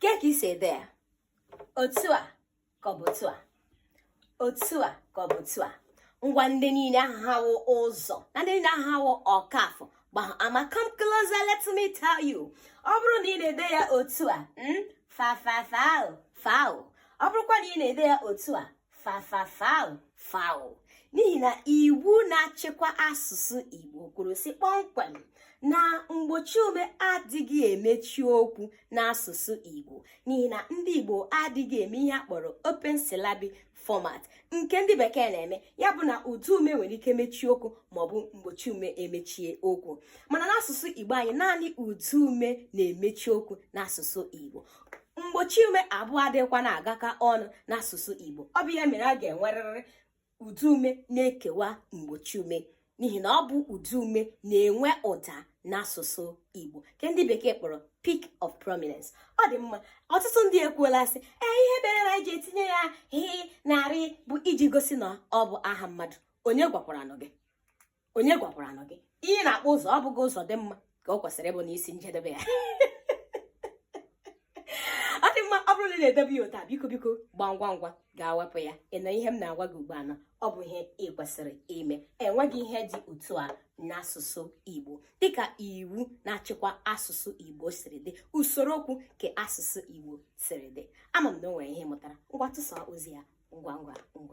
ke ka i si ede ya otu a ka ọ bụ otu a otu a ka ọ bụ otu a ngwa ndị niile ahụ ụzọ na ndị niile ahụ ọkafọ ama come closer let me tell you ọ bụrụ na ị na-ede ya otu a hmm, fa fa fa foul ọ bụrụkwa na ị na-ede ya otu a fa fa fa foul n'ihi na iwu na-achịkwa asụsụ Igbo kwuru sị kpọmkwem na mgbochi ume adịghị emechi okwu n'asụsụ Igbo n'ihi na ndị Igbo adịghị eme ihe a kpọrọ open syllabic format nke ndị bekee na-eme ya bụ na ụdaume nwere ike mechie okwu maọbụ mgbochi ume emechie okwu mana n'asụsụ Igbo anyị naanị ụdaume na-emechi okwu n'asụsụ Igbo mgbochi ume abụọ adịghịkwa na-agakọ ọnụ n'asụsụ Igbo ọ bụ ya mere a ga-enwerịrị ụdaume na-ekewa mgbochi ume n'ihi na ọ bụ ụdaume na-enwe ụda n'asụsụ Igbo nke ndị bekee kpọrọ peak of prominence ọ dị mma ọtụtụ ndị ekwuola sị ee ihe mere anyị ji etinye ya h na r bụ iji gosi na ọ bụ aha mmadụ onye gwakwaranụ gị onye gwakwaranụ gị ihe a na-akpọ ụzọ ọ bụghị Ụzọdịmma ka o kwesịrị ịbụ n'isi njedebe ya ọ dị mma ọ bụrụ na ị na-edebe ya otu a biko biko gbaa ngwa ngwa gaa wepụ ya ị nụ ihe m na-agwa gị ugbu a na ọ bụ ihe ị kwesịrị ime enweghị ihe dị otu a n'asụsụ Igbo dịka iwu na-achịkwa asụsụ Igbo siri dị usoro okwu nke asụsụ Igbo siri dị ama m na o nwere ihe ị mụtara ngwa tụsaa ozi a ngwa ngwa ngwa